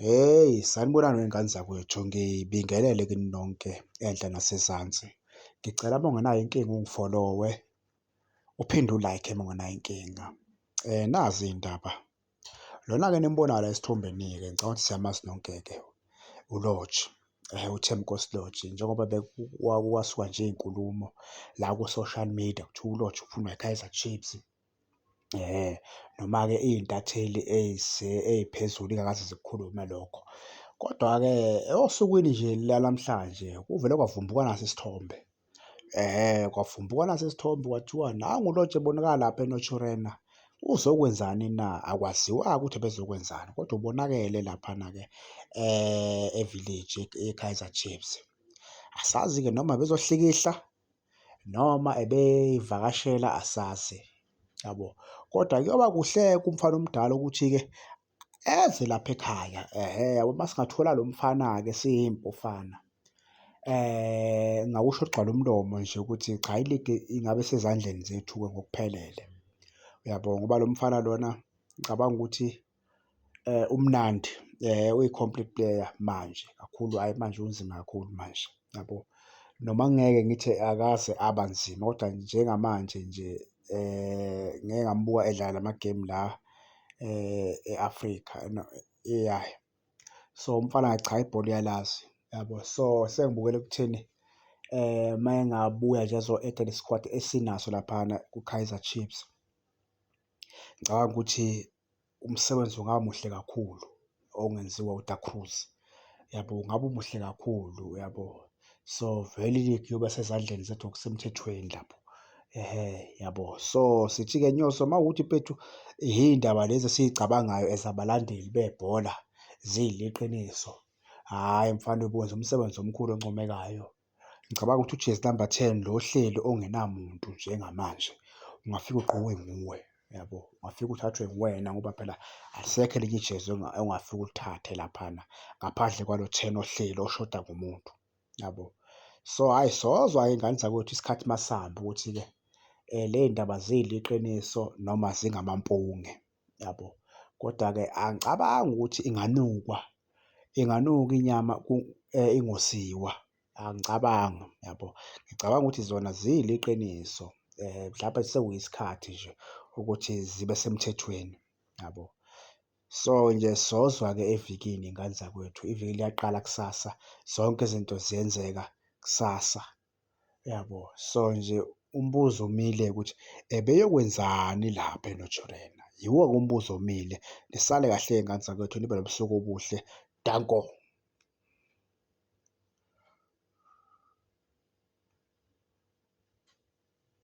Hheyi, sanibonani wey'ngane zakwethu. Ngibingelele kini nonke enhla nasezansi. Ngicela uma ungenayo inkinga ungifolowe, uphinde u-like uma ungenayo inkinga. Nazi iy'ndaba, lona-ke enimbonayo la esithombeni-ke ngicabanga ukuthi siyamazi nonke-ke, uLorch, uThembinkosi Lorch. Njengoba kwasuka nje iy'nkulumo la ku-social media kuthiwa uLorch ufunwa yiKaizer Chiefs. Noma-ke iy'ntatheli ey'phezulu ingakaze zikukhulume lokho. Kodwa-ke osukwini nje lanamhlanje kuvele kwavumbuka nasi isithombe, kwavumbuka nasi isithombe kwathiwa nangu lo nje ebonakala lapha eNaturena, uzokwenzani na? Akwaziwa-ke ukuthi ebezokwenzani kodwa ubonakele laphana-ke evileji iKaizer Chiefs. Asazi-ke noma ebezohlikihla noma ebeyivakashela asazi yabo kodwa kuyoba kuhle kumfana omdala ukuthi-ke eze lapha ekhaya ehe yabo uma singathola lo mfana-ke siyimpufana eh ngakusho kugcwala umlomo nje ukuthi cha iligi ingabe sezandleni zethu-ke ngokuphelele. Uyabo? Ngoba lo mfana lona ngicabanga ukuthi. Umnandi uyi-complete player manje kakhulu, hhayi manje unzima kakhulu manje, yabo. Noma ngingeke ngithi akaze aba nzima kodwa njengamanje nje ngike ngambuka edlala la ma-game la e-Afrika ya. So, umfana cha ibhola uyalazi, yabo. So, sengibukela ekutheni uma engabuya nje azo-add-a le squad esinaso laphana kwiKaizer Chiefs, ngicabanga ukuthi. umsebenzi ungaba muhle kakhulu ongenziwa uDa Cruz, yabo? Ngabe umuhle kakhulu, yabo? So, vele iligi iyoba sezandleni zethu ngokusemthethweni lapho. Ehhe, yabo? So, sithi-ke Nyoso, uma kuwukuthi mfethu iy'ndaba lezi esizicabangayo as abalandeli bebhola ziyiliqiniso, hhayi mfana uyokwenza umsebenzi omkhulu oncomekayo. Ngicabanga ukuthi ujezi namba ten lo ohleli ongenamuntu njengamanje ungafika ugqokwe nguwe yabo, ungafika uthathwe nguwena ngoba phela alisekho elinye ijezi ongafika ulithathe laphana ngaphandle kwalo ten ohleli oshoda ngomuntu yabo. So hhayi sozwa iy'ngane zakwethu isikhathi masihamba ukuthi-ke ley'ndaba ziyiliqiniso noma zingamampunge. yabo. Koda-ke angicabangi ukuthi inganukwa, inganukwa inyama ingosiwa, angicabangi yabo. Ngicabanga ukuthi zona ziyila iqiniso mhlampe sekuyisikhathi nje ukuthi zibe semthethweni yabo. So nje sozwa-ke evikini ngane zakwethu, iviki liyaqala kusasa, zonke izinto ziyenzeka kusasa. Uyabo? So nje umbuzo omile ukuthi ebeyokwenzani lapha eNaturena? Yiwo-ke umbuzo omile. Nisale kahle-ke ngane zakwethu, nibe nobusuku obuhle. Danko.